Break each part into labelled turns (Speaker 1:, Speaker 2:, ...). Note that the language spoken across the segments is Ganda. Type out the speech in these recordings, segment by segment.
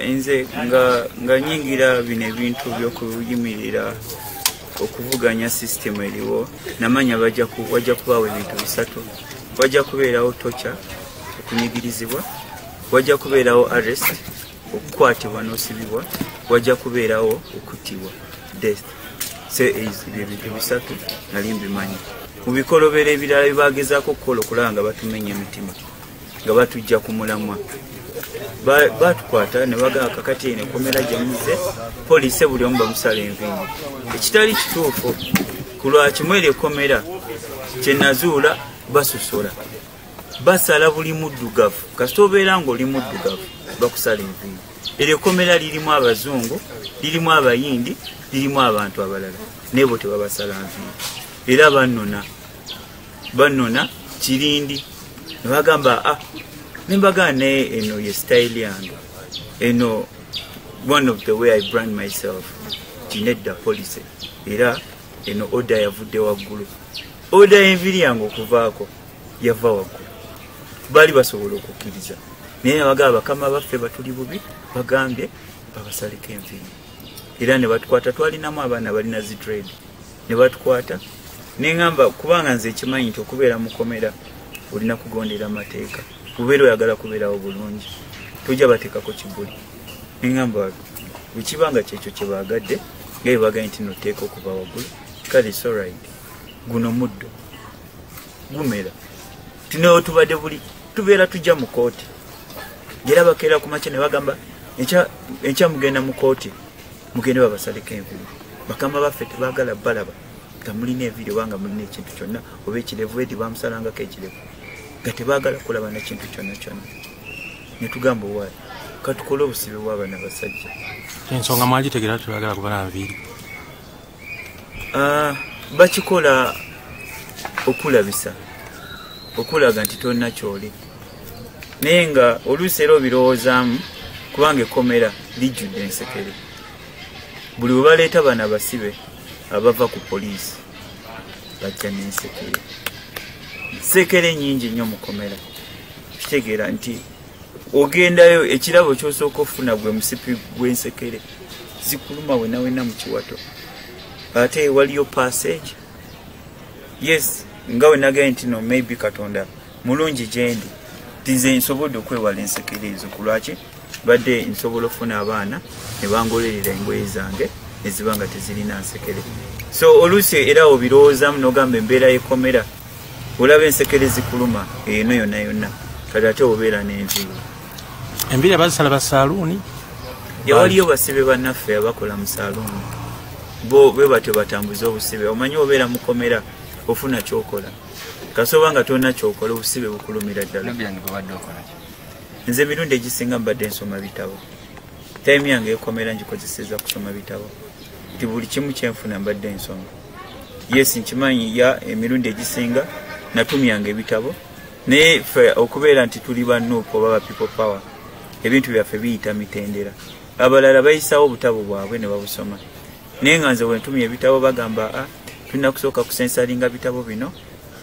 Speaker 1: nze nga nga nyingira bino ebintu byokuyimirira okuvuganya sisitemu eriwo namanya wajja kubaawo ebintu bisatu wajja kubeerawo tocha okunyigirizibwa wajja kubeerawo arrest okukwatibwa n'osibibwa wajja kubeerawo okuttibwa death se ebyo bintu bisatu nali mbimanyi mu bikolobero ebirala byebagezaako okukola okulaba nga batumenya emitima nga batujja ku mulamwa batukwata nebagaa kakati eno ekomera gyemuze poliisi buli omu bamusala enviini ekitali kituufu ku lwakimu eryo ekomera kyenazuula basosola basala buli muddugavu kasita obeera ngaoli muddugavu bakusala enviini eryo ekomera lirimu abazungu lirimu abayindi lirimu abantu abalala naye bo tebabasala nviini era bannona banona kirindi nebagamba ah, nembagaa naye eno ye style yange eno one of the way i brand myself tinedda policy era eno oda yavudde waggulu oda enviri yange okuvaako yava waggulu baali basobola okukkiriza naye nabagaa bakama baffe batuli bubi bagambye babasaleko enviri era nebatukwata twalinamu abaana balina zidredi ne batukwata ne ŋŋamba kubanga nze ekimanyi nti okubeera mukomera olina kugondera amateeka bubeera oyagala kubeerawo bulungi tujja bateekako kibuli ne ŋŋamba bwekiba nga kyekyo kye baagadde nga bye bagaye nti noteeka okuba waggulu kale soride guno muddo gumera tunewo tubadde buli tubeera tujja mu kooti ngera bakeera ku makya ne bagamba enkya mugenda mu kooti mugende babasaleko enviiri bakama baffe tebagala balaba nga mulina enviiri oba nga mulina ekintu kyonna oba ekirevu edi bamusalangako ekirevu nga tebagala kulaba nekintu kyonna kyonna netugamba owaali katukole obusibe bwabana basajja ensonga
Speaker 2: mwagitegera tebagala kubala nviiri ah,
Speaker 1: bakikola okulabisa okulaga nti tolina kyoli naye nga oluusi era obirowoozaamu kubanga ekkomera lijjudde ensekere buli bwe baleeta bana basibe abava ku poliisi bajja n'ensekere ensekere nyingi nnyo mukomera kitegeera nti ogendayo ekirabo kyosooka okufuna gwe musipi gw'ensekere zikuluma wenawena mu kiwato ate waliyo passage yes nga wenagaye ntino maybe katonda mulungi gyendi tize nsobodde okwewala ensekere ezo ku lwaki badde nsobola okufuna abaana ne bangolerera engoye zange eziba nga tezirina nsekere so oluusi era obirowoozamu nogamba embeera yekomera olaba ensekere zikuluma eno yonna yonna kati ate obeera n'enviiri enviiri
Speaker 2: abazisala basaaluuni yawaliyo
Speaker 1: basibe bannaffe abakola mu saaluuni bo bwe batyo batambuza obusibe omanyi obeera mukomera ofuna kyokola kasoba nga tolina kyokola obusibe bukulumira ddala nze emirundi egisinga mbadde nsoma bitabo taimu yange ekomera ngikozeseza kusoma bitabo nti buli kimu kyenfuna mbadde nsoma yes nkimanyi ya emirundi egisinga natumyanga ebitabo naye fe okubeera nti tuli ba nup oba ba people power ebintu byaffe biyita mitendera abalala bayisawo obutabo bwabwe ne babusoma naye nga nze wentumye ebitabo bagamba a ah, tulina kusooka kusensalinga bitabo bino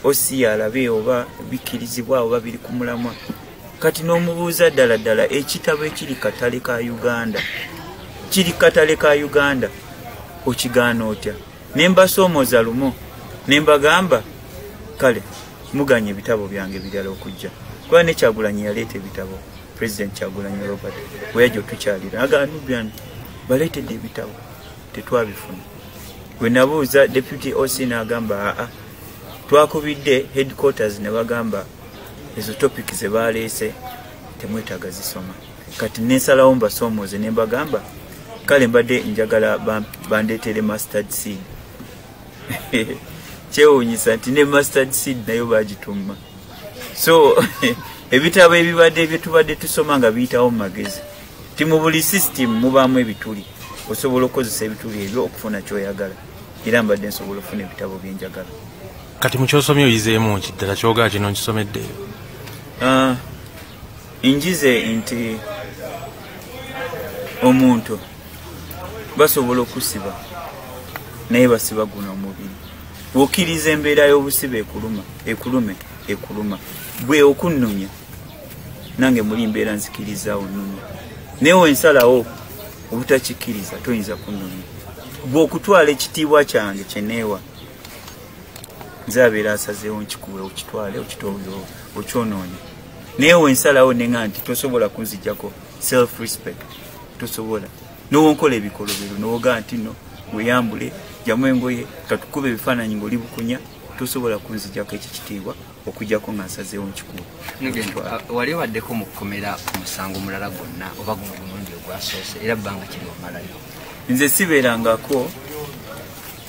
Speaker 1: osi alabe oba bikkirizibwa oba biri ku mulamwa kati n'omubuuza ddala ddala ekitabo ekiri katale ka uganda kiri katale ka uganda okigaana otya ne mbasoomooza lumu ne mbagamba kale muganya ebitabo byange birala okujja kuba nekyagulanyi yaleeta ebitabo president kyagulanyi robert weyajja otukyalira agaanubyange baleetedde ebitabo tetwabifuna bwe nabuuza deputy oc n'agamba aa twakubidde headquarters ne bagamba ezo topic ze baaleese temwetaaga zisoma kati nensalawo mbasoomooze ne mbagamba kale mbadde njagala bandeetere mustard seed kyewuunyisa nti ne mustard seed nayo bagitumma so ebitabo ebibadde byetubadde tusoma nga biyitawo mu magezi ti mu buli system mubaamu ebituli osobola okukozesa ebituli ebyo okufuna kyoyagala era mbadde nsobola okufuna ebitabo byenjagala kati mukyosomye
Speaker 2: oyizeemu ki ddala kyogaa kino nkisomedde ah, njize nti omuntu basobola okusiba naye basiba guno omubiri wokiriza embeera y'obusiba ekuluma ekulume ekuluma gwe okunnonya nange muli mbeera nzikiriza onumya naye
Speaker 1: wensalawo obutakikkiriza toyinza kunumya gwe okutwala ekitiibwa kyange kyeneewa nze abeera asazeewo nkikuwe okitwale okitooyo okyonoonye naye wensalawo nenga nti tosobola kunzijjako self respect tosobola nowonkola ebikolobero nowogaa nti no weyambule jamu engoye katukube ebifaananyi ngaoli bukunya tosobola kunzijjako ekyo kitiibwa okujako nga nsazeewo nkikuwa uh, wali
Speaker 3: obaddeko mu kukomera ku musango mulala gwonna oba guno gumundi ogwasoose era bbanga kiri omalayo nze
Speaker 1: sibeerangako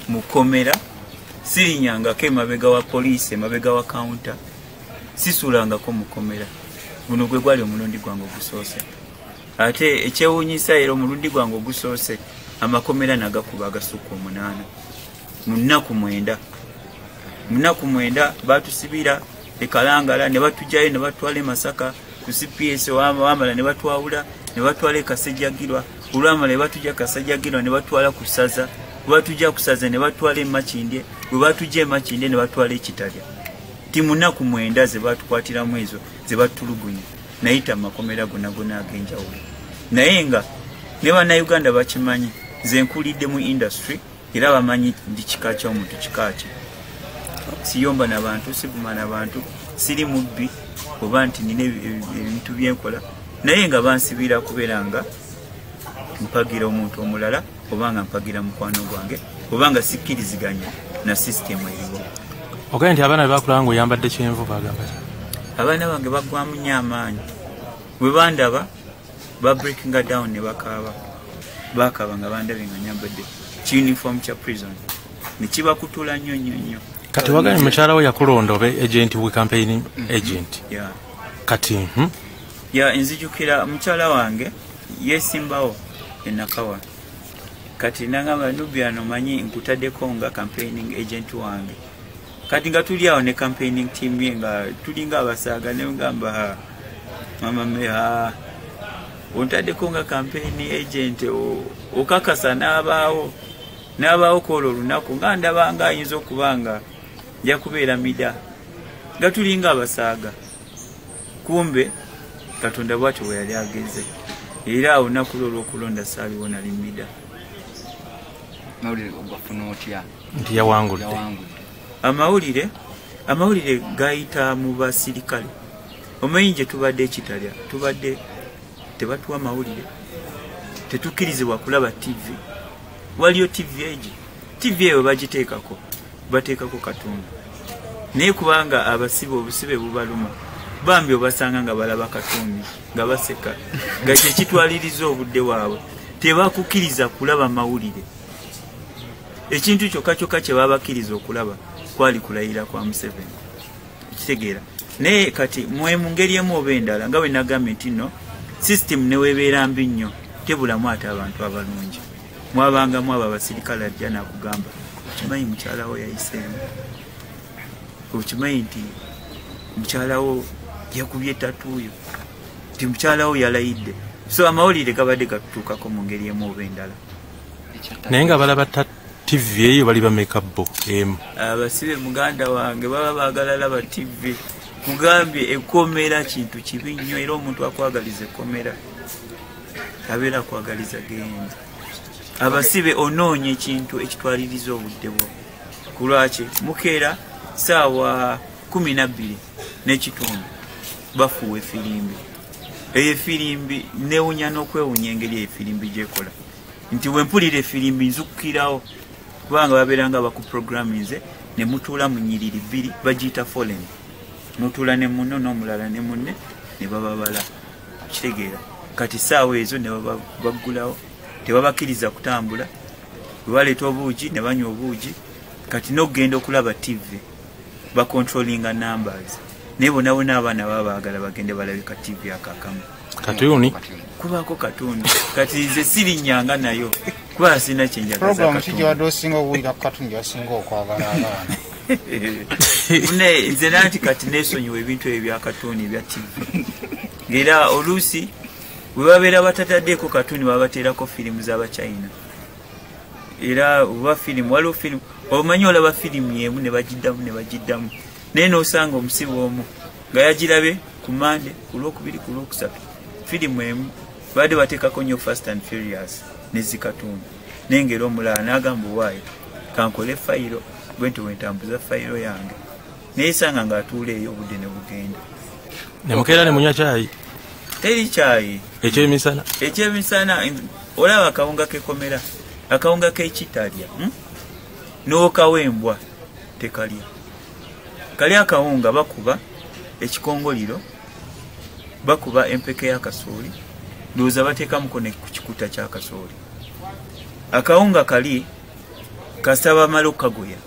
Speaker 1: mu komera sirinyangako emabega wa poliisi emabega wa kawunta sisuulangako mu komera guno gwe gwali omulundi gwange ogusoose ate ekyewuunyisa era omulundi gwange ogusoose amakomera nagakuba agasukka omunaana mu nnaku mwenda mu nnaku mwenda batusibira ekalangala ne batugyayo ne batwala e masaka ku cps wamala ne batwawula ne batwala e kasejjagirwa olwamala ne batugya kasajjagirwa ne batwala ku ssaza webatugya ku ssaza ne batwala e makindye we batugya e makindye ne batwala ekitalya ti mu nnaku mwenda ze batukwatiramu ezo ze batulugunya nayita mu makomera gonna gonna ag'enjawulo naye nga ne bannayuganda bakimanyi ze nkulidde mu industry era bamanyi ndi kika kya omuntu kika kye siyomba na bantu sivuma na bantu siri mubbi oba nti nina ebintu byenkola naye nga bansibira kubeera nga mpagira omuntu omulala oba nga mpagira mukwano gwange oba nga sikkiriziganya na sisitemu eriwo ogende nti abaana
Speaker 2: bebakulaba nga oyambadde kyenvu bagamba abaana bange
Speaker 1: bagwamu nyo amaanyi bwe bandaba ba breakinga down ne bakaaba bakaaba nga bandabe nga nyambadde kiuniform kya prison nekibakutula nnyo nnyo nnyo kati wagambye mukyala
Speaker 2: wo yakulonda oba agent we campaign mm-hmm. agent
Speaker 1: kati hmm?
Speaker 2: ya
Speaker 1: nzijukira mukyala wange yesimbawo enakawa kati nangamba nubiano manyi nkutadeko nga campaigning agent wange kati nga tuli awo ne campaigning team ye nga tulinga abasaaga ne ngamba ha mama me ha ontadeko nga campaign agent okakasa n'abaawo n'abaawo kwolwo olunaku nga ndaba nga ayinza okuba nga nja kubeera mida nga tulinga abasaaga kumbe katonda bwatyo bwe yali ageze era awo nakulwa olw'okulonda saaliwo nali mida mawulire
Speaker 2: ogwafuna otya nti yawangudde amawulire
Speaker 1: amawulire gayita mu basirikale omanyi gye tubadde ekitalya tubadde tebatuwa mawulire tetukkirizibwa kulaba tv waliyo tv egi tv eyo bagiteekako bateekako katonda naye kubanga abasibe obusibe bubaluma bambi obasanga nga balaba katonda nga baseka nga kyekitwaliriza obudde waabwe tebakukkiriza kulaba mawulire ekintu kyokka kyokka kye babakkiriza okulaba kwali kulayira kwa museveni ekitegeera naye kati mwe mu ngeri emu oba endala nga bwe nagambye nti no sisitemu newebeera mbi nnyo tebulamu ate abantu abalungi mwabangamu abo abasirikale ajja nakugamba okimanyi mukyalawo yayiseemu okimanyi nti mukyalawo yakubye tatuuyo nti mukyalawo yalayidde so amawulire gabadde gatutuukako mu ngeri emu oba endala naye
Speaker 2: nga balaba tv eyo bali bameka bo emu abasibe muganda
Speaker 1: wange baba bagala laba tv mugambye ekomera kintu kibi nnyo era omuntu akwagaliza ekomera abeera akwagaliza genda abasibe onoonya ekintu ekitwaliriza obudde bwo kulwaki mukeera saawa kumi nabbiri n'ekitundu bafuuwa efirimbi eyo efirimbi newunya n'okwewunya engeri eyo efirimbi gyekola nti wempulira efirimbi nzukukirawo kubanga babeera nga bakuprograminze ne mutuula mu nyiriri bbiri bagiyita folen mutuula ne munno n'omulala ne munne ne bababala kitegeera kati saawa ezo ne baggulawo tebabakiriza kutambula webaleeta obuugi ne banywa obuugi kati n'okugenda okulaba tivi ba controlling numbers naye bonabona abaana baba baagala bagende balabe ka tv akakamu katuni
Speaker 2: kubaako
Speaker 1: katuni kati nze sirinyanga nayo kuba sirina kyenjagazakigiwadde osinga okuwulira ku katuni gyasinga okwagala abaana naye nze nanti kati nesonyiwa ebintu ebyo byakatuni ebya tv ngaera oluusi webabeera batataddeeko katuni babateerako firimu z'abachina era oba firimu waliwo firimu omanyi olaba firimu yemu ne bagiddamu ne bagiddamu naye n'osanga omusibe omu nga yagirabe ku mande ku lwokubiri ku lwokusatu firimu emu baadde bateekako nnyo fast and furious nezikatundu naye ngaera omulala n'agamba owaayo kankole fayiro gwe nti wentambuza fayiro yange naye sanga ng'atuula eyo obudde ne bugenda ne mukeera
Speaker 2: ne munywa kyayi teri kyayi
Speaker 1: ekyemisana ekyemisana olaba akawunga kekomera akawunga kekitalya hmm? n'okawa embwa tekalya kali akawunga bakuba ekikongoliro bakuba empeke y'akasooli ndowooza bateekamuko ne ku kikuta ky'akasooli akawunga kali kasaba amala okukagoya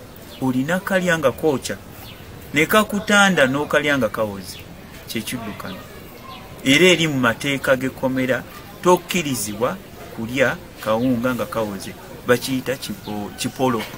Speaker 1: olina kalya nga kookya nekakutanda n'okalya nga kawozi kyekiddukano era eri mu mateeka g'ekkomera tokkirizibwa kulya kawunga nga kawoze bakiyita kipolo ki